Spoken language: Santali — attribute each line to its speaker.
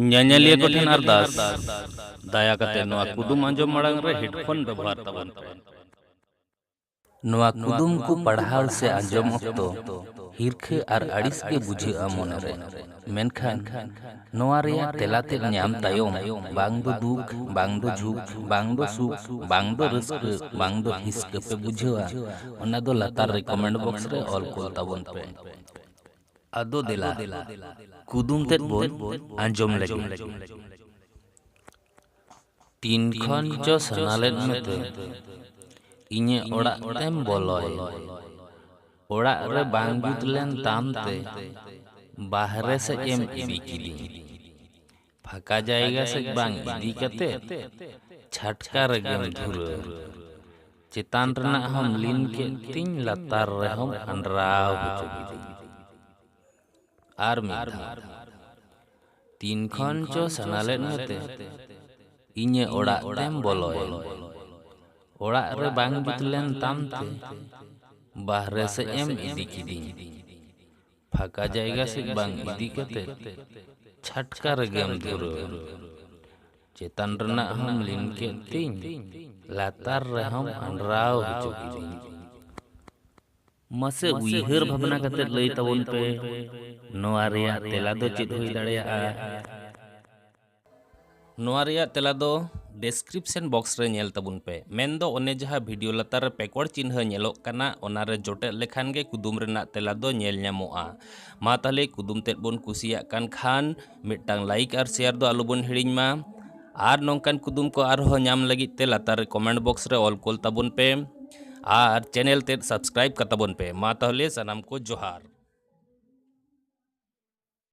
Speaker 1: ᱧᱮᱧᱮᱞᱤᱭᱟᱹ ᱠᱚ ᱴᱷᱮᱱ ᱟᱨᱫᱟᱥ ᱫᱟᱭᱟ ᱠᱟᱛᱮ ᱱᱚᱣᱟ ᱠᱩᱫᱩᱢ ᱟᱸᱡᱚᱢ ᱢᱟᱲᱟᱝ ᱨᱮ ᱦᱮᱰᱯᱷᱳᱱ ᱵᱮᱵᱚᱦᱟᱨ ᱛᱟᱵᱚᱱ ᱯᱮ ᱱᱚᱣᱟ ᱠᱩᱫᱩᱢ ᱠᱚ ᱯᱟᱲᱦᱟᱣ ᱥᱮ ᱟᱸᱡᱚᱢ ᱚᱠᱛᱚ ᱦᱤᱨᱠᱷᱟᱹ ᱟᱨ ᱟᱹᱲᱤᱥ ᱜᱮ ᱵᱩᱡᱷᱟᱹᱜᱼᱟ ᱢᱚᱱᱮ ᱨᱮ ᱢᱮᱱᱠᱷᱟᱱ ᱱᱚᱣᱟ ᱨᱮᱭᱟᱜ ᱛᱮᱞᱟ ᱛᱮᱫ ᱧᱟᱢ ᱛᱟᱭᱚᱢ ᱵᱟᱝ ᱫᱚ ᱫᱩᱠ ᱵᱟᱝ ᱫᱚ ᱡᱷᱩᱠ ᱵᱟᱝ ᱫᱚ ᱥᱩᱠ ᱵᱟᱝ ᱫᱚ ᱨᱟᱹᱥᱠᱟᱹ ᱵᱟᱝ ᱫᱚ ᱦᱤᱥᱠᱟᱹ ᱯᱮ ᱵᱩᱡᱷᱟᱹᱣᱟ ᱚᱱᱟ ᱫᱚ ᱞᱟᱛᱟᱨ ᱨᱮ ᱠᱚᱢᱮᱱᱴ ᱵᱚᱠᱥ ᱨᱮ ᱚᱞ ᱠᱩᱞ ᱛᱟᱵᱚᱱ ᱯᱮ ᱟᱫᱚ ᱫᱮᱞᱟ ᱠᱩᱫᱩᱢ ᱛᱮᱫ ᱵᱚᱱ ᱟᱸᱡᱚᱢ ᱞᱮᱜᱮ᱾ ᱛᱤᱱ ᱠᱷᱚᱱ ᱪᱚ ᱥᱟᱱᱟ ᱞᱮᱫ ᱢᱮᱛᱮ ᱤᱧᱟᱹᱜ ᱚᱲᱟᱜ ᱛᱮᱢ ᱵᱚᱞᱚᱭᱮᱱ᱾ ᱚᱲᱟᱜ ᱨᱮ ᱵᱟᱝ ᱡᱩᱛ ᱞᱮᱱ ᱛᱟᱢ ᱛᱮ ᱵᱟᱦᱨᱮ ᱥᱮᱡ ᱮᱢ ᱤᱫᱤ ᱠᱤᱫᱤᱧ᱾ ᱯᱷᱟᱸᱠᱟ ᱡᱟᱭᱜᱟ ᱥᱮᱫ ᱵᱟᱝ ᱤᱫᱤ ᱠᱟᱛᱮ ᱪᱷᱟᱴᱠᱟ ᱨᱮᱜᱮᱢ ᱫᱷᱩᱨᱟᱹᱣ ᱪᱮᱛᱟᱱ ᱨᱮᱱᱟᱜ ᱦᱚᱸ ᱞᱤᱱ ᱠᱮᱫ ᱛᱤᱧ ᱞᱟᱛᱟᱨ ᱨᱮᱦᱚᱸ ᱟᱱᱰᱨᱟᱣ ᱦᱚᱪᱚ ᱠᱤᱫᱤᱧ ᱟᱨ ᱢᱤᱫ ᱫᱷᱟᱣ ᱛᱤᱱ ᱠᱷᱚᱱ ᱪᱚ ᱥᱟᱱᱟ ᱞᱮᱫ ᱢᱮᱛᱮ ᱤᱧᱮ ᱚᱲᱟᱜ ᱛᱮᱢ ᱵᱚᱞᱚᱭᱮᱱ ᱚᱲᱟᱜ ᱨᱮ ᱵᱟᱝ ᱡᱩᱛ ᱞᱮᱱ ᱛᱟᱢ ᱛᱮ ᱵᱟᱦᱨᱮ ᱥᱮᱫ ᱮᱢ ᱤᱫᱤ ᱠᱤᱫᱤᱧ ᱯᱷᱟᱸᱠᱟ ᱡᱟᱭᱜᱟ ᱥᱮᱫ ᱵᱟᱝ ᱤᱫᱤ ᱠᱟᱛᱮ ᱪᱷᱟᱴᱠᱟ ᱨᱮᱜᱮᱢ ᱫᱷᱩᱨᱟᱹᱣ ᱮᱱ ᱪᱮᱛᱟᱱ ᱨᱮᱱᱟᱜ ᱦᱚᱸᱢ ᱞᱤᱱ ᱠᱮᱫ ᱛᱤᱧ ᱞᱟᱛᱟᱨ ᱨᱮᱦᱚᱸᱢ ᱟᱸᱰᱨᱟᱣ ᱦᱚᱪᱚ ᱠᱤᱫᱤᱧ᱾ ᱢᱟᱥᱮ ᱩᱭᱦᱟᱹᱨ ᱵᱷᱟᱵᱽᱱᱟ ᱠᱟᱛᱮ ᱞᱟᱹᱭ ᱛᱟᱵᱚᱱ ᱯᱮ ᱱᱚᱶᱟ ᱨᱮᱭᱟᱜ ᱛᱮᱞᱟ ᱫᱚ ᱪᱮᱫ ᱦᱩᱭ ᱫᱟᱲᱮᱭᱟᱜᱼᱟ? ᱱᱚᱣᱟ ᱨᱮᱭᱟᱜ ᱛᱮᱞᱟ ᱫᱚ ᱰᱮᱥᱠᱨᱤᱯᱥᱚᱱ ᱵᱚᱠᱥ ᱨᱮ ᱧᱮᱞ ᱛᱟᱵᱚᱱ ᱯᱮ ᱢᱮᱱ ᱫᱚ ᱚᱱᱮ ᱡᱟᱦᱟᱸ ᱵᱷᱤᱰᱤᱭᱳ ᱞᱟᱛᱟᱨ ᱨᱮ ᱯᱮᱠᱚᱲ ᱪᱤᱱᱦᱟᱹ ᱧᱮᱞᱚᱜ ᱠᱟᱱᱟ ᱚᱱᱟ ᱨᱮ ᱡᱚᱴᱮᱫ ᱞᱮᱠᱷᱟᱱ ᱜᱮ ᱠᱩᱫᱩᱢ ᱨᱮᱱᱟᱜ ᱛᱮᱞᱟ ᱫᱚ ᱧᱮᱞ ᱧᱟᱢᱚᱜᱼᱟ ᱢᱟ ᱛᱟᱦᱞᱮ ᱠᱩᱫᱩᱢ ᱛᱮᱫ ᱵᱚᱱ ᱠᱩᱥᱤᱭᱟᱜ ᱠᱟᱱ ᱠᱷᱟᱱ ᱢᱤᱫᱴᱟᱝ ᱞᱟᱭᱤᱠ ᱟᱨ ᱥᱮᱭᱟᱨ ᱫᱚ ᱟᱞᱚ ᱵᱚᱱ ᱦᱤᱲᱤᱧ ᱢᱟ ᱟᱨ ᱱᱚᱝᱠᱟᱱ ᱠᱩᱫᱩᱢ ᱠᱚ ᱟᱨᱦᱚᱸ ᱧᱟᱢ ᱞᱟᱹᱜᱤᱫ ᱛᱮ ᱞᱟᱛᱟᱨ ᱨᱮ ᱠᱚᱢᱮᱱᱴ ᱵᱚᱠᱥ ᱨᱮ ᱚᱞ ᱠᱳᱞ ᱛᱟᱵᱚᱱ ᱯᱮ ᱟᱨ ᱪᱮᱱᱮᱞ ᱛᱮᱫ ᱥᱟᱵᱥᱠᱨᱟᱭᱤᱵ ᱠᱟᱛᱟᱵᱚᱱ ᱯᱮ ᱢᱟ ᱛᱟᱦᱞᱮ ᱥᱟᱱᱟᱢ ᱠᱚ ᱡᱚᱦᱟᱨ